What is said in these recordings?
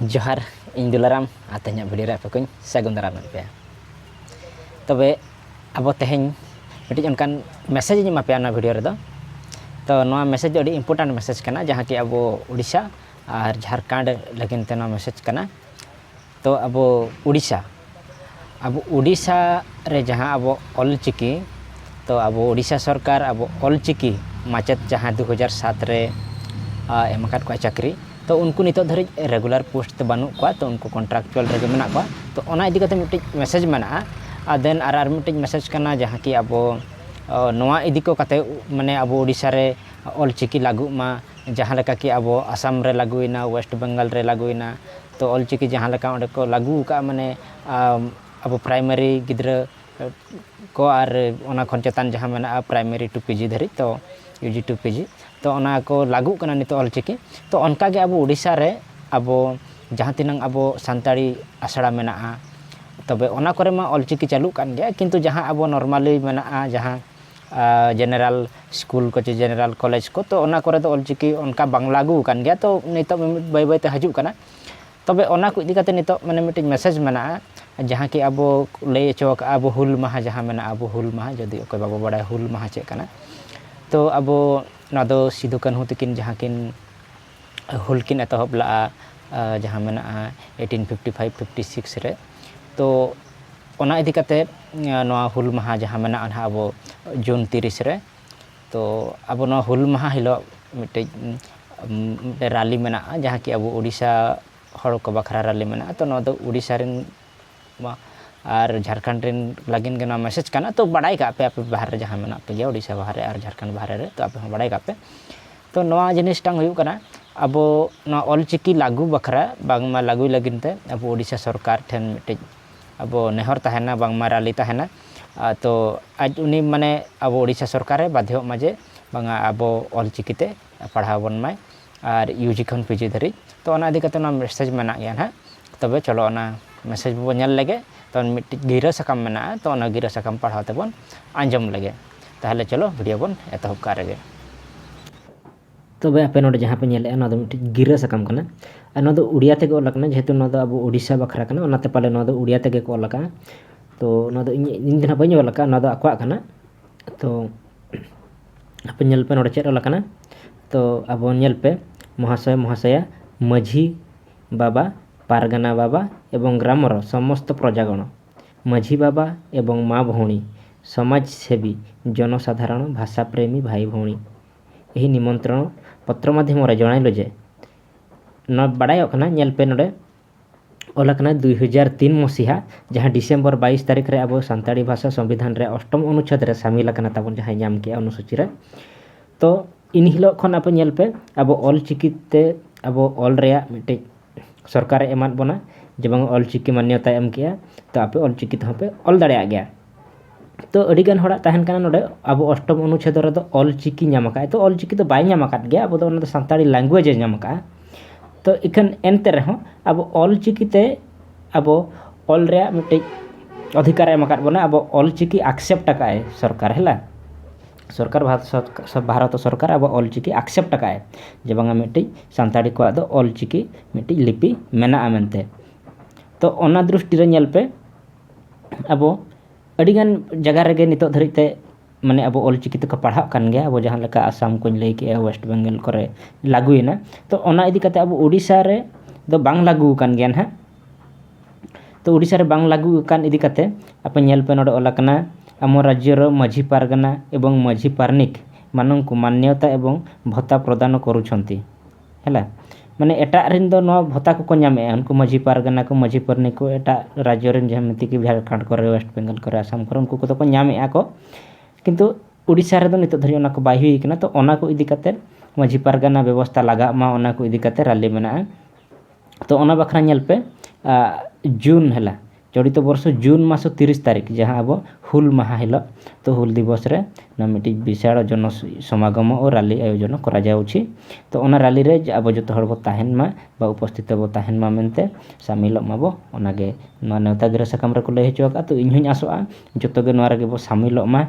ᱡᱚᱦᱟᱨ ᱤᱧ ᱫᱩᱞᱟᱨᱟᱢ ᱟᱨ ᱛᱮᱦᱮᱧᱟᱜ ᱵᱷᱤᱰᱤᱭᱳ ᱨᱮ ᱟᱯᱮ ᱠᱚᱧ ᱥᱟᱹᱜᱩᱱ ᱫᱟᱨᱟᱢ ᱮᱫ ᱯᱮᱭᱟ ᱛᱚᱵᱮ ᱟᱵᱚ ᱛᱮᱦᱮᱧ ᱢᱤᱫᱴᱤᱡ ᱚᱱᱠᱟᱱ ᱢᱮᱥᱮᱡᱽ ᱤᱧ ᱮᱢᱟ ᱯᱮᱭᱟ ᱱᱚᱣᱟ ᱵᱷᱤᱰᱤᱭᱳ ᱨᱮᱫᱚ ᱛᱚ ᱱᱚᱣᱟ ᱢᱮᱥᱮᱡᱽ ᱫᱚ ᱟᱹᱰᱤ ᱤᱢᱯᱚᱨᱴᱮᱱᱴ ᱢᱮᱥᱮᱡᱽ ᱠᱟᱱᱟ ᱡᱟᱦᱟᱸ ᱠᱤ ᱟᱵᱚ ᱩᱲᱤᱥᱥᱟ ᱟᱨ ᱡᱷᱟᱲᱠᱷᱚᱸᱰ ᱞᱟᱹᱜᱤᱫ ᱛᱮ ᱱᱚᱣᱟ ᱢᱮᱥᱮᱡᱽ ᱠᱟᱱᱟ ᱛᱚ ᱟᱵᱚ ᱩᱲᱤᱥᱥᱟ ᱟᱵᱚ ᱩᱲᱤᱥᱥᱟ ᱨᱮ ᱡᱟᱦᱟᱸ ᱟᱵᱚ ᱚᱞ ᱪᱤᱠᱤ ᱛᱚ ᱟᱵᱚ ᱩᱲᱤᱥᱥᱟ ᱥᱚᱨᱠᱟᱨ ᱟᱵᱚ ᱚᱞ ᱪᱤᱠᱤ ᱢᱟᱪᱮᱫ ᱡᱟᱦᱟᱸ ᱫᱩ ᱦᱟᱡᱟᱨ ᱥᱟᱛ ᱨᱮ ᱮᱢ ᱟᱠᱟᱫ ᱠᱚᱣᱟᱭ ᱪᱟᱹᱠᱨᱤ ᱛᱚ ᱩᱱᱠᱩ ᱱᱤᱛᱚᱜ ᱫᱷᱟᱹᱨᱤᱡ ᱨᱮᱜᱩᱞᱟᱨ ᱯᱳᱥᱴ ᱛᱮ ᱵᱟᱹᱱᱩᱜ ᱠᱚᱣᱟ ᱛᱚ ᱩᱱᱠᱩ ᱠᱚᱱᱴᱨᱟᱠᱪᱩᱣᱟᱞ ᱨᱮᱜᱮ ᱢᱮᱱᱟᱜ ᱠᱚᱣᱟ ᱛᱚ ᱚᱱᱟ ᱤᱫᱤ ᱠᱟᱛᱮᱫ ᱢᱤᱫᱴᱤᱡ ᱢᱮᱥᱮᱡᱽ ᱢᱮᱱᱟᱜᱼᱟ ᱟᱨ ᱫᱮᱱ ᱟᱨ ᱟᱨ ᱢᱤᱫᱴᱤᱡ ᱢᱮᱥᱮᱡᱽ ᱠᱟᱱᱟ ᱡᱟᱦᱟᱸ ᱠᱤ ᱟᱵᱚ ᱱᱚᱣᱟ ᱤᱫᱤ ᱠᱚ ᱠᱟᱛᱮᱫ ᱢᱟᱱᱮ ᱟᱵᱚ ᱩᱲᱤᱥᱥᱟ ᱨᱮ ᱚᱞ ᱪᱤᱠᱤ ᱞᱟᱹᱜᱩᱜ ᱢᱟ ᱡᱟᱦᱟᱸ ᱞᱮᱠᱟ ᱠᱤ ᱟᱵᱚ ᱟᱥᱟᱢ ᱨᱮ ᱞᱟᱹᱜᱩᱭᱮᱱᱟ ᱳᱭᱮᱥᱴ ᱵᱮᱝᱜᱚᱞ ᱨᱮ ᱞᱟᱹᱜᱩᱭᱮᱱᱟ ᱛᱚ ᱚᱞᱪᱤᱠᱤ ᱡᱟᱦᱟᱸ ᱞᱮᱠᱟ ᱚᱸᱰᱮ ᱠᱚ ᱞᱟᱹᱜᱩ ᱟᱠᱟᱫᱼᱟ ᱢᱟᱱᱮ ᱟᱵᱚ ᱯᱨᱟᱭᱢᱟᱨᱤ ᱜᱤᱫᱽᱨᱟᱹ ᱠᱚ ᱟᱨ ᱚᱱᱟ ᱠᱷᱚᱱ ᱪᱮᱛᱟᱱ ᱡᱟᱦᱟᱸ ᱢᱮᱱᱟᱜᱼᱟ ᱯᱨᱟᱭᱢᱟᱨᱤ ᱴᱩ ᱯᱤᱡᱤ ᱫᱷᱟᱹᱨᱤᱡ ᱛᱚ ᱤᱭᱩ ᱡᱤ ᱴᱩ ᱯᱤᱡᱤ ᱛᱚ ᱚᱱᱟ ᱠᱚ ᱞᱟᱹᱜᱩᱜ ᱠᱟᱱᱟ ᱱᱤᱛᱚᱜ ᱚᱞᱪᱤᱠᱤ ᱛᱚ ᱚᱱᱠᱟ ᱜᱮ ᱟᱵᱚ ᱳᱰᱤᱥᱟ ᱨᱮ ᱟᱵᱚ ᱡᱟᱦᱟᱸ ᱛᱤᱱᱟᱹᱜ ᱟᱵᱚ ᱥᱟᱱᱛᱟᱲᱤ ᱟᱥᱲᱟ ᱢᱮᱱᱟᱜᱼᱟ ᱛᱚᱵᱮ ᱚᱱᱟ ᱠᱚᱨᱮ ᱢᱟ ᱚᱞᱪᱤᱠᱤ ᱪᱟᱹᱞᱩᱜ ᱠᱟᱱ ᱜᱮᱭᱟ ᱠᱤᱱᱛᱩ ᱡᱟᱦᱟᱸ ᱟᱵᱚ ᱱᱚᱨᱢᱟᱞᱤ ᱢᱮᱱᱟᱜᱼᱟ ᱡᱟᱦᱟᱸ ᱡᱮᱱᱟᱨᱮᱞ ᱥᱠᱩᱞ ᱠᱚ ᱪᱮ ᱡᱮᱱᱟᱨᱮᱞ ᱠᱚᱞᱮᱡᱽ ᱠᱚ ᱛᱚ ᱚᱱᱟ ᱠᱚᱨᱮ ᱫᱚ ᱚᱞᱪᱤᱠᱤ ᱚᱱᱠᱟ ᱵᱟᱝ ᱞᱟᱹᱜᱩ ᱟᱠᱟᱱ ᱜᱮᱭᱟ ᱛᱚ ᱱᱤᱛᱚᱜ ᱢᱤᱢᱤᱫ ᱵᱟᱹᱭ ᱵᱟᱹᱭᱛᱮ ᱦᱤᱡᱩᱜ ᱠᱟᱱᱟ ᱛᱚᱵᱮ ᱚᱱᱟ ᱠᱚ ᱤᱫᱤ ᱠᱟᱛᱮᱫ ᱱᱤᱛᱚᱜ ᱢᱟᱱᱮ ᱢᱤᱫᱴᱤᱡ ᱢᱮᱥᱮᱡᱽ ᱢᱮᱱᱟᱜᱼᱟ ᱡᱟᱦᱟᱸ ᱠᱤ ᱟᱵᱚ ᱞᱟᱹᱭ ᱦᱚᱪᱚ ᱟᱠᱟᱫᱼᱟ ᱟᱵᱚ ᱦᱩᱞ ᱢᱟᱦᱟ ᱡᱟᱦᱟᱸ ᱢᱮᱱᱟᱜᱼᱟ ᱟᱵᱚ ᱦᱩᱞ ᱢᱟᱦᱟ ᱡᱩᱫᱤ ᱚᱠᱚᱭ ᱵᱟᱵᱚ ᱵᱟᱲᱟᱭᱟ ᱦᱩᱞ ᱢᱟᱦᱟ ᱪᱮᱫ ᱠᱟᱱᱟ ᱛᱚ ᱟᱵᱚ ᱱᱚᱣᱟ ᱫᱚ ᱥᱤᱫᱩ ᱠᱟᱹᱱᱦᱩ ᱛᱟᱹᱠᱤᱱ ᱡᱟᱦᱟᱸ ᱠᱤᱱ ᱦᱩᱞ ᱠᱤᱱ ᱮᱛᱚᱦᱚᱵ ᱞᱟᱜᱼᱟ ᱡᱟᱦᱟᱸ ᱢᱮᱱᱟᱜᱼᱟ eighteen fifty five fifty six ᱨᱮ ᱛᱚ ᱚᱱᱟ ᱤᱫᱤ ᱠᱟᱛᱮᱫ ᱱᱚᱣᱟ ᱦᱩᱞ ᱢᱟᱦᱟ ᱡᱟᱦᱟᱸ ᱢᱮᱱᱟᱜᱼᱟ ᱱᱟᱦᱟᱜ ᱟᱵᱚ ᱡᱩᱱ ᱛᱤᱨᱤᱥ ᱨᱮ ᱛᱚ ᱟᱵᱚ ᱱᱚᱣᱟ ᱦᱩᱞ ᱢᱟᱦᱟ ᱦᱤᱞᱳᱜ ᱢᱤᱫᱴᱤᱡ ᱨᱮᱞᱤ ᱢᱮᱱᱟᱜᱼᱟ ᱡᱟᱦᱟᱸ ᱠᱤ ᱟᱵᱚ ᱳᱰᱤᱥᱟ ᱦᱚᱲ ᱠᱚ ᱵᱟᱠᱷᱨᱟ ᱨᱮᱞᱤ ᱢᱮᱱᱟᱜᱼᱟ ᱛᱚ ᱱᱚᱣᱟ ᱫᱚ ᱳᱰᱤᱥᱟ ᱨᱮᱱ ᱵᱟᱝ ᱟᱨ ᱡᱷᱟᱲᱠᱷᱚᱸᱰ ᱨᱮᱱ ᱞᱟᱹᱜᱤᱫ ᱜᱮ ᱱᱚᱣᱟ ᱢᱮᱥᱮᱡᱽ ᱠᱟᱱᱟ ᱛᱳ ᱵᱟᱲᱟᱭ ᱠᱟᱜ ᱯᱮ ᱟᱯᱮ ᱵᱟᱦᱨᱮ ᱨᱮ ᱡᱟᱦᱟᱸ ᱢᱮᱱᱟᱜ ᱯᱮᱜᱮᱭᱟ ᱳᱰᱤᱥᱟ ᱵᱟᱦᱨᱮ ᱟᱨ ᱡᱷᱟᱲᱠᱷᱚᱸᱰ ᱵᱟᱦᱨᱮ ᱨᱮ ᱛᱳ ᱟᱯᱮ ᱦᱚᱸ ᱵᱟᱲᱟᱭ ᱠᱟᱜ ᱯᱮ ᱛᱳ ᱱᱚᱣᱟ ᱡᱤᱱᱤᱥᱴᱟᱝ ᱦᱩᱭᱩᱜ ᱠᱟᱱᱟ ᱟᱵᱚ ᱱᱚᱣᱟ ᱚᱞ ᱪᱤᱠᱤ ᱞᱟᱹᱜᱩ ᱵᱟᱠᱷᱨᱟ ᱵᱟᱝᱢᱟ ᱞᱟᱹᱜᱩᱭ ᱞᱟᱹᱜᱤᱫ ᱛᱮ ᱟᱵᱚ ᱳᱰᱤᱥᱟ ᱥᱚᱨᱠᱟᱨ ᱴᱷᱮᱱ ᱢᱤᱫᱴᱤᱡ ᱟᱵᱚ ᱱᱮᱦᱚᱨ ᱛᱟᱦᱮᱱᱟ ᱵᱟᱝᱢᱟ ᱨᱟᱹᱞᱤ ᱛᱟᱦᱮᱱᱟ ᱛᱳ ᱟᱡ ᱩᱱᱤ ᱢᱟᱱᱮ ᱟᱵᱚ ᱳᱰᱤᱥᱟ ᱥᱚᱨᱠᱟᱨᱮ ᱵᱟᱫᱽᱫᱷᱚᱜ ᱢᱟ ᱡᱮ ᱵᱟᱝᱟ ᱟᱵᱚ ᱚᱞ ᱪᱤᱠᱤᱛᱮ ᱯᱟᱲᱦᱟᱣ ᱵᱚᱱ ᱢᱟᱭ ᱟᱨ ᱤᱭᱩ ᱡᱤ ᱠᱷᱚᱱ ᱯᱤᱡᱤ ᱫᱷᱟᱹᱨᱤᱡ ᱛᱚ ᱚᱱᱟ ᱤᱫᱤ ᱠᱟᱛᱮᱫ ᱚᱱᱟ ᱢᱮᱥᱮᱡᱽ ᱢᱮᱱᱟᱜ ᱜᱮᱭᱟ ᱦᱟᱸᱜ ᱛᱚᱵᱮ ᱪᱚᱞᱚ ᱚᱱᱟ ᱢᱮᱥᱮᱡᱽ ᱵᱚᱱ ᱧᱮᱞ ᱞᱮᱜᱮ ᱛᱚ ᱢᱤᱫᱴᱤᱡ ᱜᱤᱨᱟᱹ ᱥᱟᱠᱟᱢ ᱢᱮᱱᱟᱜᱼᱟ ᱛᱚ ᱚᱱᱟ ᱜᱤᱨᱟᱹ ᱥᱟᱠᱟᱢ ᱯᱟᱲᱦᱟᱣ ᱛᱮᱵᱚᱱ ᱟᱸᱡᱚᱢ ᱞᱮᱜᱮ ᱛᱟᱦᱚᱞᱮ ᱪᱚᱞᱚ ᱵᱷᱤᱰᱤᱭᱳ ᱵᱚᱱ ᱮᱛᱚᱦᱚᱵ ᱠᱟᱜ ᱨᱮᱜᱮ ᱛᱚᱵᱮ ᱟᱯᱮ ᱱᱚᱰᱮ ᱡᱟᱦᱟᱸ ᱯᱮ ᱧᱮᱞᱮᱜᱼᱟ ᱱᱚᱣᱟ ᱫᱚ ᱢᱤᱫᱴᱤᱡ ᱜᱤᱨᱟᱹ ᱥᱟᱠᱟᱢ ᱠᱟᱱᱟ ᱟᱨ ᱱᱚᱣᱟ ᱫᱚ ᱩᱲᱤᱭᱟ ᱛᱮᱜᱮ ᱚᱞ ᱟᱠᱟᱱᱟ ᱡᱮᱦᱮᱛᱩ ᱱᱚᱣᱟ ᱫᱚ ᱟᱵᱚ ᱩᱲᱤᱥᱥᱟ ᱵᱟᱠᱷᱨᱟ ᱠᱟᱱᱟ ᱚᱱᱟᱛᱮ ᱯᱟᱞᱮ ᱱᱚᱣᱟ ᱫᱚ ᱩᱲᱤᱭᱟ ᱛᱮᱜᱮ ᱠᱚ ᱚᱞ ᱟᱠᱟᱜᱼᱟ ᱛᱚ ᱱᱚᱣᱟ ᱫᱚ ᱤᱧ ᱤᱧ ᱫᱚ ᱱᱟᱦᱟᱜ ᱵᱟᱹᱧ ᱚᱞ ᱟᱠᱟᱜᱼᱟ ᱱᱚᱣᱟ ᱫᱚ ᱟᱠᱚᱣᱟᱜ ᱠᱟᱱᱟ ᱛᱚ ᱟᱯᱮ ᱧᱮᱞ ᱯᱮ ᱱᱚᱰᱮ ᱪᱮᱫ ᱚᱞ ᱟᱠᱟᱱᱟ ᱛᱚ ᱟᱵᱚ ᱧᱮᱞ ᱯᱮ ᱢᱚᱦᱟᱥᱚᱭ ᱢᱚᱦᱟᱥᱚᱭᱟ ᱢᱟᱺᱡᱷᱤ ᱵᱟᱵᱟ ᱯᱟᱨᱜᱟᱱᱟ ᱵᱟᱵᱟ ᱮᱵᱚᱝ ᱜᱨᱟᱢᱚᱨ ᱥᱚᱢᱚᱥᱛᱚ ᱯᱨᱚᱡᱟ ᱜᱚᱬᱚ ᱢᱟᱺᱡᱷᱤ ᱵᱟᱵᱟ ᱮᱵᱚᱝ ᱢᱟ ᱵᱷᱚᱣᱬᱤ ᱥᱚᱢᱟᱡᱽ ᱥᱮᱵᱤ ᱡᱚᱱᱚ ᱥᱟᱫᱷᱟᱨᱚᱱ ᱵᱷᱟᱥᱟ ᱯᱨᱮᱢᱤ ᱵᱷᱟᱭ ᱵᱷᱚᱣᱬᱤ ᱮᱦᱤ ᱱᱤᱢᱚᱱᱛᱨᱚᱱ ᱯᱚᱛᱨᱚ ᱢᱟᱫᱷᱭᱚᱢ ᱨᱮ ᱡᱚᱬᱟᱭ ᱞᱚᱡᱮ ᱱᱚᱣᱟ ᱵᱟᱰᱟᱭᱚᱜ ᱠᱟᱱᱟ ᱧᱮᱞ ᱯᱮ ᱱᱚᱰᱮ ᱚᱞ ᱟᱠᱟᱱᱟ ᱫᱩᱭ ᱦᱟᱡᱟᱨ ᱛᱤᱱ ᱢᱚᱥᱤᱦᱟ ᱡᱟᱦᱟᱸ ᱰᱤᱥᱮᱢᱵᱚᱨ ᱵᱟᱭᱤᱥ ᱛᱟᱹᱨᱤᱠᱷ ᱨᱮ ᱟᱵᱚ ᱥᱟᱱᱛᱟᱲᱤ ᱵᱷᱟᱥᱟ ᱥᱚᱝᱵᱤᱫᱷᱟᱱ ᱨᱮ ᱚᱥᱴᱚᱢ ᱚᱱᱩᱪᱷᱮᱫᱽ ᱨᱮ ᱥᱟᱢᱤᱞ ᱟᱠᱟᱱᱟ ᱛᱟᱵᱚᱱ ᱡᱟᱦᱟᱸᱭ ᱧᱟᱢ ᱠᱮᱜᱼᱟ ᱚᱱᱩᱥᱩᱪᱤ ᱨᱮ ᱛᱚ ᱤᱱ ᱦᱤᱞᱳᱜ ᱠᱷᱚᱱ ᱟᱯᱮ ᱧᱮᱞ ᱯᱮ ᱟᱵᱚ ᱚᱞ ᱪᱤᱠᱤ ᱛᱮ ᱟᱵᱚ ᱚᱞ ᱨᱮᱭᱟᱜ ᱢᱤᱫᱴᱤᱡ ᱥᱚᱨᱠᱟᱨᱮ ᱮᱢᱟᱫ ᱵᱚᱱᱟ ᱡᱮ ᱵᱟᱝ ᱚᱞ ᱪᱤᱠᱤ ᱢᱟᱱᱱᱚᱛᱟᱭ ᱮᱢ ᱠᱮᱜᱼᱟ ᱛᱚ ᱟᱯᱮ ᱚᱞ ᱪᱤᱠᱤ ᱛᱮᱦᱚᱸ ᱯᱮ ᱚᱞ ᱫᱟᱲᱮᱭᱟᱜ ᱜᱮᱭᱟ ᱛᱚ ᱟᱹᱰᱤ ᱜᱟᱱ ᱦᱚᱲᱟᱜ ᱛᱟᱦᱮᱱ ᱠᱟᱱᱟ ᱱᱚᱰᱮ ᱟᱵᱚ ᱚᱥᱴᱚᱢ ᱚᱱᱩᱪᱷᱮᱫ ᱨᱮᱫᱚ ᱚᱞ ᱪᱤᱠᱤ ᱧᱟᱢ ᱟᱠᱟᱫ ᱟᱭ ᱛᱚ ᱚᱞ ᱪᱤᱠᱤ ᱫᱚ ᱵᱟᱭ ᱧᱟᱢ ᱟᱠᱟᱫ ᱜᱮᱭᱟ ᱟᱵᱚ ᱫᱚ ᱚᱱᱟ ᱫᱚ ᱥᱟᱱᱛᱟᱲᱤ ᱞᱮᱝᱜᱩᱭᱮᱡᱽ ᱮ ᱧᱟᱢ ᱟᱠᱟᱫᱼᱟ ᱛᱚ ᱤᱠᱷᱟᱹᱱ ᱮᱱᱛᱮ ᱨᱮᱦᱚᱸ ᱟᱵᱚ ᱚᱞ ᱪᱤᱠᱤ ᱛᱮ ᱟᱵᱚ ᱚᱞ ᱨᱮᱭᱟᱜ ᱢᱤᱫᱴᱤᱡ ᱚᱫᱷᱤᱠᱟᱨ ᱮ ᱮᱢ ᱟᱠᱟᱫ ᱵᱚᱱᱟ ᱟᱵᱚ ᱚᱞ ᱪᱤᱠᱤ ᱟᱠᱥᱮᱯᱴ ᱟᱠᱟᱫ ᱟᱭ ᱥᱚᱨᱠᱟᱨ ᱦᱮᱞᱟ ᱥᱚᱨᱠᱟᱨ ᱵᱷᱟᱨᱚᱛ ᱥᱚᱨᱠᱟᱨ ᱟᱵᱚ ᱚᱞ ᱪᱤᱠᱤ ᱟᱠᱥᱮᱯᱴ ᱟᱠᱟᱫ ᱟᱭ ᱡᱮ ᱵᱟᱝᱟ ᱢᱤᱫᱴᱤᱡ ᱥᱟᱱᱛᱟᱲᱤ ᱠᱚᱣᱟᱜ ᱫᱚ ᱚᱞ ᱪᱤᱠᱤ ᱢᱤᱫᱴᱤᱡ ᱞᱤᱯᱤ ᱢᱮᱱᱟᱜᱼᱟ ᱢᱮᱱᱛᱮ ᱛᱚ ᱚᱱᱟ ᱫᱨᱤᱥᱴᱤ ᱨᱮ ᱧᱮᱞ ᱯᱮ ᱟᱵᱚ ᱟᱹᱰᱤᱜᱟᱱ ᱡᱟᱭᱜᱟ ᱨᱮᱜᱮ ᱱᱤᱛᱚᱜ ᱫᱷᱟᱹᱨᱤᱡ ᱛᱮ ᱢᱟᱱᱮ ᱟᱵᱚ ᱚᱞ ᱪᱤᱠᱤ ᱛᱮᱠᱚ ᱯᱟᱲᱦᱟᱜ ᱠᱟᱱ ᱜᱮᱭᱟ ᱟᱵᱚ ᱡᱟᱦᱟᱸ ᱞᱮᱠᱟ ᱟᱥᱟᱢ ᱠᱚᱧ ᱞᱟᱹᱭ ᱠᱮᱜᱼᱟ ᱳᱭᱮᱥᱴ ᱵᱮᱝᱜᱚᱞ ᱠᱚᱨᱮᱜ ᱞᱟᱹᱜᱩᱭᱮᱱᱟ ᱛᱚ ᱚᱱᱟ ᱤᱫᱤ ᱠᱟᱛᱮ ᱟᱵᱚ ᱳᱰᱤᱥᱟ ᱨᱮ ᱫᱚ ᱵᱟᱝ ᱞᱟᱹᱜᱩ ᱟᱠᱟᱱ ᱜᱮᱭᱟ ᱦᱟᱸᱜ ᱛᱚ ᱳᱰᱤᱥᱟ ᱨᱮ ᱵᱟᱝ ᱞᱟᱹᱜᱩ ᱟᱠᱟᱱ ᱤᱫᱤ ᱠᱟᱛᱮ ᱟᱯᱮ ᱧᱮᱞ ᱯᱮ ᱱᱚᱰᱮ ᱚᱞ ᱠᱟᱱᱟ ᱟᱢᱚ ᱨᱟᱡᱽᱡᱚ ᱨᱮ ᱢᱟᱹᱡᱷᱤ ᱯᱟᱨᱜᱟᱱᱟ ᱮᱵᱚᱝ ᱢᱟᱹᱡᱷᱤ ᱯᱟᱨᱟᱱᱤᱠ ᱢᱟᱱᱚᱝᱠᱚ ᱢᱟᱱᱱᱚᱛᱟ ᱮᱵᱚᱝ ᱵᱷᱚᱛᱟ ᱯᱨᱚᱫᱟᱱ ᱠᱚᱨᱩᱪᱷᱚᱱᱛᱤ ᱦᱮᱸ ᱵᱟᱝ ᱢᱟᱱᱮ ᱮᱴᱟᱜ ᱨᱮᱱ ᱫᱚ ᱱᱚᱣᱟ ᱵᱷᱟᱛᱟ ᱠᱚᱠᱚ ᱧᱟᱢᱮᱜᱼᱟ ᱩᱱᱠᱩ ᱢᱟᱹᱡᱷᱤ ᱯᱟᱨᱜᱟᱱᱟ ᱠᱚ ᱢᱟᱹᱡᱷᱤ ᱯᱟᱨᱟᱱᱤᱠ ᱠᱚ ᱮᱴᱟᱜ ᱨᱟᱡᱽᱡᱚ ᱨᱮᱱ ᱡᱟᱦᱟᱸ ᱢᱤᱛᱤ ᱠᱚ ᱡᱷᱟᱲᱠᱷᱚᱸᱰ ᱠᱚᱨᱮ ᱚᱭᱮᱥᱴ ᱵᱮᱝᱜᱚᱞ ᱠᱚᱨᱮ ᱟᱥᱟᱢ ᱠᱚᱨᱮ ᱩᱱᱠᱩ ᱠᱚᱫᱚ ᱠᱚ ᱧᱟᱢᱮᱜᱼᱟ ᱠᱚ ᱠᱤᱱᱛᱩ ᱩᱲᱤᱥᱥᱟ ᱨᱮᱫᱚ ᱱᱤᱛᱚᱜ ᱫᱷᱟᱹᱵᱤᱡ ᱚᱱᱟ ᱠᱚ ᱵᱟᱭ ᱦᱩᱭ ᱠᱟᱱᱟ ᱛᱚ ᱚᱱᱟ ᱠᱚ ᱤᱫᱤ ᱠᱟᱛᱮᱫ ᱢᱟᱹᱡᱷᱤ ᱯᱟᱨᱜᱟᱱᱟ ᱵᱮᱵᱚᱥᱛᱷᱟ ᱞᱟᱜᱟᱜ ᱢᱟ ᱚᱱᱟ ᱠᱚ ᱤᱫᱤ ᱠᱟᱛᱮᱫ ᱨᱟᱹᱞᱤ ᱢᱮᱱᱟᱜᱼᱟ ᱛᱚ ᱚᱱᱟ ᱵᱟᱠᱷᱨᱟ ᱧᱮᱞ ᱯᱮ ᱡᱩᱱ ᱦᱤᱞᱳᱜ ᱪᱚᱞᱤᱛ ᱵᱚᱨᱥᱚ ᱡᱩᱱ ᱢᱟᱥ ᱛᱤᱨᱤᱥ ᱛᱟᱹᱨᱤᱠᱷ ᱡᱟᱦᱟᱸ ᱟᱵᱚ ᱦᱩᱞ ᱢᱟᱦᱟ ᱦᱤᱞᱳᱜ ᱛᱚ ᱦᱩᱞ ᱫᱤᱵᱚᱥ ᱨᱮ ᱚᱱᱟ ᱢᱤᱫᱴᱤᱡ ᱵᱤᱥᱟᱞ ᱡᱚᱱᱚ ᱥᱚᱢᱟᱜᱚᱢ ᱦᱚᱸ ᱨᱟᱹᱞᱤ ᱟᱭᱳᱡᱚᱱ ᱠᱚᱨᱟᱣ ᱡᱟᱣᱪᱷᱤ ᱛᱚ ᱚᱱᱟ ᱨᱟᱹᱞᱤ ᱨᱮ ᱟᱵᱚ ᱡᱚᱛᱚ ᱦᱚᱲ ᱵᱚ ᱛᱟᱦᱮᱱ ᱢᱟ ᱵᱟ ᱩᱯᱚᱥᱛᱷᱤᱛᱚ ᱵᱚ ᱛᱟᱦᱮᱱ ᱢᱟ ᱢᱮᱱᱛᱮ ᱥᱟᱹᱢᱤᱞᱚᱜ ᱢᱟᱵᱚ ᱚᱱᱟᱜᱮ ᱱᱚᱣᱟ ᱱᱮᱣᱛᱟ ᱜᱤᱨᱟᱹ ᱥᱟᱠᱟᱢ ᱨᱮᱠᱚ ᱞᱟᱹᱭ ᱦᱚᱪᱚ ᱟᱠᱟᱫᱼᱟ ᱛᱚ ᱤᱧ ᱦᱚᱧ ᱟᱥᱚᱜᱼᱟ ᱡᱚᱛᱚ ᱜᱮ ᱱᱚᱣᱟ ᱨᱮᱜᱮ ᱵᱚ ᱥᱟᱹᱢᱤᱞᱚᱜ ᱢᱟ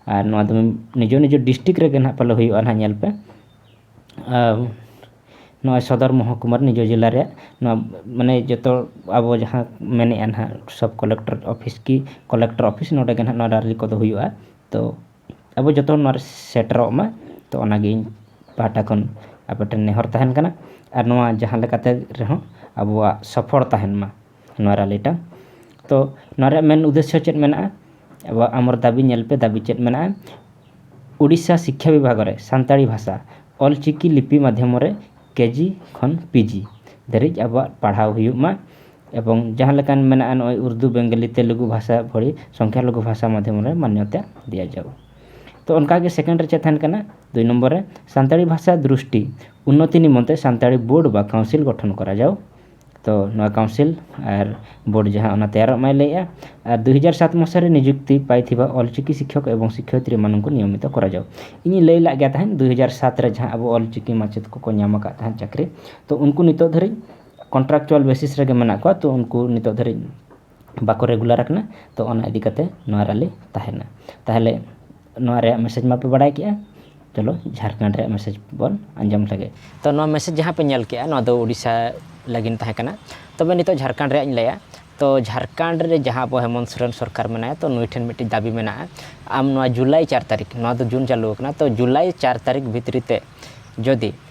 ᱟᱨ ᱱᱚᱣᱟ ᱫᱚ ᱱᱤᱡᱚ ᱱᱤᱡᱚ ᱰᱤᱥᱴᱤᱠ ᱨᱮᱜᱮ ᱱᱟᱦᱟᱜ ᱯᱟᱞᱮ ᱦᱩᱭᱩᱜᱼᱟ ᱱᱟᱦᱟᱜ ᱧᱮᱞ ᱯᱮ ᱟᱨ ᱱᱚᱜᱼᱚᱭ ᱥᱚᱫᱚᱨ ᱢᱚᱦᱚᱠᱩᱢᱟ ᱨᱮ ᱱᱤᱡᱚ ᱡᱮᱞᱟ ᱨᱮᱭᱟᱜ ᱱᱚᱣᱟ ᱢᱟᱱᱮ ᱡᱚᱛᱚ ᱟᱵᱚ ᱡᱟᱦᱟᱸ ᱢᱮᱱᱮᱫᱼᱟ ᱱᱟᱦᱟᱜ ᱥᱚᱵᱽ ᱠᱚᱞᱮᱠᱴᱚᱨ ᱚᱯᱷᱤᱥ ᱠᱤ ᱠᱚᱞᱮᱠᱴᱚᱨ ᱚᱯᱷᱤᱥ ᱱᱚᱰᱮ ᱜᱮ ᱱᱟᱦᱟᱜ ᱱᱚᱣᱟ ᱨᱟᱞᱞᱤ ᱠᱚᱫᱚ ᱦᱩᱭᱩᱜᱼᱟ ᱛᱳ ᱟᱵᱚ ᱡᱚᱛᱚ ᱱᱚᱣᱟ ᱨᱮ ᱥᱮᱴᱮᱨᱚᱜ ᱢᱟ ᱛᱳ ᱚᱱᱟᱜᱮ ᱤᱧ ᱯᱟᱦᱴᱟ ᱠᱷᱚᱱ ᱟᱯᱮ ᱴᱷᱮᱱ ᱱᱮᱦᱚᱨ ᱛᱟᱦᱮᱱ ᱠᱟᱱᱟ ᱟᱨ ᱱᱚᱣᱟ ᱡᱟᱦᱟᱸ ᱞᱮᱠᱟᱛᱮ ᱨᱮᱦᱚᱸ ᱟᱵᱚᱣᱟᱜ ᱥᱚᱯᱷᱚᱞ ᱛᱟᱦᱮᱱ ᱢᱟ ᱱᱚᱣᱟ ᱨᱟᱞᱤᱴᱟ ᱛᱚ ᱱᱚᱣᱟ ᱨᱮᱭᱟᱜ ᱢᱮᱱ ᱩᱫᱮᱥᱥᱚ ᱪᱮᱫ ᱢᱮᱱᱟᱜᱼᱟ ᱟᱵᱚᱣᱟᱜ ᱟᱢᱚᱨ ᱫᱟᱵᱤ ᱧᱮᱞ ᱯᱮ ᱫᱟᱵᱤ ᱪᱮᱫ ᱢᱮᱱᱟᱜᱼᱟ ᱩᱲᱤᱥᱥᱟ ᱥᱤᱠᱠᱷᱟ ᱵᱤᱵᱷᱟᱜᱽ ᱨᱮ ᱥᱟᱱᱛᱟᱲᱤ ᱵᱷᱟᱥᱟ ᱚᱞ ᱪᱤᱠᱤ ᱞᱤᱯᱤ ᱢᱟᱫᱽᱫᱷᱚᱢ ᱨᱮ ᱠᱮᱡᱤ ᱠᱷᱚᱱ ᱯᱤᱡᱤ ᱫᱷᱟᱹᱨᱤᱡ ᱟᱵᱚᱣᱟᱜ ᱯᱟᱲᱦᱟᱣ ᱦᱩᱭᱩᱜ ᱢᱟ ᱮᱵᱚᱝ ᱡᱟᱦᱟᱸ ᱞᱮᱠᱟᱱ ᱢᱮᱱᱟᱜᱼᱟ ᱱᱚᱜᱼᱚᱭ ᱩᱨᱫᱩ ᱵᱮᱝᱜᱚᱞᱤ ᱛᱮᱞᱮᱜᱩ ᱵᱷᱟᱥᱟ ᱵᱷᱚᱞᱤ ᱥᱚᱝᱠᱷᱟ ᱞᱚᱜᱷᱩ ᱵᱷᱟᱥᱟ ᱢᱟᱫᱽᱫᱷᱚᱢ ᱨᱮ ᱢᱟᱱᱱᱚᱛᱟ ᱫᱤᱭᱟ ᱡᱟᱣ ᱛᱚ ᱚᱱᱠᱟ ᱜᱮ ᱥᱮᱠᱮᱱᱰ ᱨᱮ ᱪᱮᱫ ᱛᱟᱦᱮᱱ ᱠᱟᱱᱟ ᱫᱩᱭ ᱱᱚᱢᱵᱚᱨ ᱨᱮ ᱥᱟᱱᱛᱟᱲᱤ ᱵᱷᱟᱥᱟ ᱫᱨᱤᱥᱴᱤ ᱩᱱᱱᱚᱛᱤ ᱱᱤᱢᱚᱱᱛᱮ ᱥᱟᱱᱛᱟᱲᱤ ᱵᱳᱨᱰ ᱵᱟ ᱠᱟᱣᱩᱱᱥᱤᱞ ᱜᱚᱴᱷᱚᱱ ᱠᱚᱨᱟ ᱡᱟᱣ ᱛᱚ ᱱᱚᱣᱟ ᱠᱟᱣᱩᱱᱥᱤᱞ ᱟᱨ ᱵᱳᱨᱰ ᱡᱟᱦᱟᱸ ᱚᱱᱟ ᱛᱮᱭᱟᱨᱚᱜ ᱢᱟᱭ ᱞᱟᱹᱭᱮᱜᱼᱟ ᱟᱨ ᱫᱩ ᱦᱟᱡᱟᱨ ᱥᱟᱛ ᱢᱚᱥᱟᱨᱮ ᱱᱤᱡᱩᱠᱛᱤ ᱯᱟᱭ ᱛᱷᱤᱵᱟ ᱚᱞᱪᱤᱠᱤ ᱥᱤᱠᱠᱷᱚᱠ ᱮᱵᱚᱝ ᱥᱤᱠᱠᱷᱚᱭᱤᱛᱨᱤ ᱮᱢᱟᱱᱠᱚ ᱱᱤᱭᱚᱢᱤᱛᱚ ᱠᱚᱨᱟ ᱡᱟᱣ ᱤᱧᱤᱧ ᱞᱟᱹᱭ ᱞᱟᱜ ᱜᱮᱭᱟ ᱛᱟᱦᱮᱸᱫ ᱫᱩ ᱦᱟᱡᱟᱨ ᱥᱟᱛ ᱨᱮ ᱡᱟᱦᱟᱸ ᱟᱵᱚ ᱚᱞᱪᱤᱠᱤ ᱢᱟᱪᱮᱫ ᱠᱚᱠᱚ ᱧᱟᱢ ᱟᱠᱟᱫ ᱛᱟᱦᱮᱸᱫ ᱪᱟᱹᱠᱨᱤ ᱛᱚ ᱩᱱᱠᱩ ᱱᱤᱛᱚᱜ ᱫᱷᱟᱹᱨᱤᱡ ᱠᱚᱱᱴᱨᱟᱠᱪᱩᱣᱟᱞ ᱵᱮᱥᱤᱥ ᱨᱮᱜᱮ ᱢᱮᱱᱟᱜ ᱠᱚᱣᱟ ᱛᱚ ᱩᱱᱠᱩ ᱱᱤᱛᱚᱜ ᱫᱷᱟᱹᱨᱤᱡ ᱵᱟᱠᱚ ᱨᱮᱜᱩᱞᱟᱨ ᱟᱠᱟᱱᱟ ᱛᱚ ᱚᱱᱟ ᱤᱫᱤ ᱠᱟᱛᱮᱫ ᱱᱚᱣᱟ ᱨᱮᱞᱮ ᱛᱟᱦᱮᱱᱟ ᱛᱟᱦᱚᱞᱮ ᱱᱚᱣᱟ ᱨᱮᱭᱟᱜ ᱢᱮᱥᱮᱡᱽ ᱢᱟᱯᱮ ᱵᱟᱲᱟᱭ ᱠᱮᱫᱼᱟ ᱪᱚᱞᱚ ᱡᱷᱟᱲᱠᱷᱚᱸᱰ ᱨᱮᱭᱟᱜ ᱢᱮᱥᱮᱡᱽ ᱵᱚᱱ ᱟᱸᱡᱚᱢ ᱞᱮᱜᱮ ᱛᱚ ᱱᱚᱣᱟ ᱢᱮᱥᱮᱡᱽ ᱡᱟᱦᱟᱸ ᱯᱮ ᱧᱮᱞ ᱠᱮᱫᱼᱟ ᱱᱚᱣᱟ ᱫᱚ ᱳᱰᱤᱥᱟ ᱞᱟᱹᱜᱤᱫ ᱛᱟᱦᱮᱸ ᱠᱟᱱᱟ ᱛᱚᱵᱮ ᱱᱤᱛᱚᱜ ᱡᱷᱟᱲᱠᱷᱚᱸᱰ ᱨᱮᱭᱟᱜ ᱤᱧ ᱞᱟᱹᱭᱟ ᱛᱚ ᱡᱷᱟᱲᱠᱷᱚᱸᱰ ᱨᱮ ᱡᱟᱦᱟᱸ ᱟᱵᱚ ᱦᱮᱢᱚᱱᱛ ᱥᱚᱨᱮᱱ ᱥᱚᱨᱠᱟᱨ ᱢᱮᱱᱟᱭᱟ ᱛᱚ ᱱᱩᱭ ᱴᱷᱮᱱ ᱢᱤᱫᱴᱤᱡ ᱫᱟᱹᱵᱤ ᱢᱮᱱᱟᱜᱼᱟ ᱟᱢ ᱱᱚᱣᱟ ᱡᱩᱞᱟᱭ ᱪᱟᱨ ᱛᱟᱹᱨᱤᱠᱷ ᱱᱚᱣᱟ ᱫᱚ ᱡᱩᱱ ᱪᱟᱹᱞᱩ ᱟᱠᱟᱱᱟ ᱛᱚ ᱡᱩᱞᱟᱭ ᱪᱟᱨ ᱛᱟᱹᱨᱤᱠᱷ ᱵᱷᱤᱛᱨᱤ ᱛᱮ ᱡᱩᱫᱤ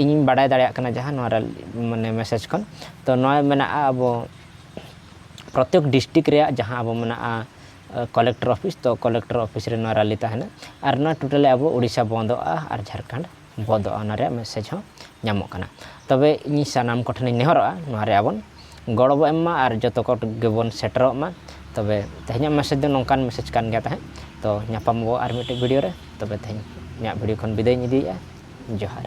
ᱤᱧᱤᱧ ᱵᱟᱰᱟᱭ ᱫᱟᱲᱮᱭᱟᱜ ᱠᱟᱱᱟ ᱡᱟᱦᱟᱸ ᱱᱚᱣᱟ ᱨᱮ ᱢᱟᱱᱮ ᱢᱮᱥᱮᱡᱽ ᱠᱷᱚᱱ ᱛᱚ ᱱᱚᱜᱼᱚᱭ ᱢᱮᱱᱟᱜᱼᱟ ᱟᱵᱚ ᱯᱨᱚᱛᱮᱠ ᱰᱤᱥᱴᱤᱠ ᱨᱮᱭᱟᱜ ᱡᱟᱦᱟᱸ ᱟᱵᱚ ᱢᱮᱱᱟᱜᱼᱟ ᱠᱚᱞᱮᱠᱴᱚᱨ ᱚᱯᱷᱤᱥ ᱛᱚ ᱠᱚᱞᱮᱠᱴᱚᱨ ᱚᱯᱷᱤᱥ ᱨᱮ ᱱᱚᱣᱟ ᱨᱮᱞᱤ ᱛᱟᱦᱮᱱᱟ ᱟᱨ ᱱᱚᱣᱟ ᱴᱳᱴᱟᱞᱤ ᱟᱵᱚ ᱳᱰᱤᱥᱟ ᱵᱚᱱᱫᱚᱜᱼᱟ ᱟᱨ ᱡᱷᱟᱲᱠᱷᱚᱸᱰ ᱵᱚᱱᱫᱚᱜᱼᱟ ᱚᱱᱟ ᱨᱮᱭᱟᱜ ᱢᱮᱥᱮᱡᱽ ᱦᱚᱸ ᱧᱟᱢᱚᱜ ᱠᱟᱱᱟ ᱛᱚᱵᱮ ᱤᱧ ᱥᱟᱱᱟᱢ ᱠᱚᱴᱷᱮᱱᱤᱧ ᱱᱮᱦᱚᱨᱚᱜᱼᱟ ᱱᱚᱣᱟ ᱨᱮ ᱟᱵᱚᱱ ᱜᱚᱲᱚ ᱵᱚᱱ ᱮᱢ ᱢᱟ ᱟᱨ ᱡᱚᱛᱚ ᱠᱚ ᱜᱮᱵᱚᱱ ᱥᱮᱴᱮᱨᱚᱜ ᱢᱟ ᱛᱚᱵᱮ ᱛᱮᱦᱮᱧᱟᱜ ᱢᱮᱥᱮᱡᱽ ᱫᱚ ᱱᱚᱝᱠᱟᱱ ᱢᱮᱥᱮᱡᱽ ᱠᱟᱱ ᱜᱮᱭᱟ ᱛᱟᱦᱮᱸᱫ ᱛᱚ ᱧᱟᱯᱟᱢ ᱟᱵᱚ ᱟᱨ ᱢᱤᱫᱴᱮᱱ ᱵᱷᱤᱰᱭᱳ ᱨᱮ ᱛᱚᱵᱮ ᱛᱮᱦᱮᱧ ᱤᱧᱟᱹᱜ ᱵᱷᱤᱰᱭᱳ ᱠᱷᱚᱱ ᱵᱤᱫᱟᱹᱭᱤᱧ ᱤᱫᱤᱭᱮᱫᱼᱟ ᱡᱚᱦᱟᱨ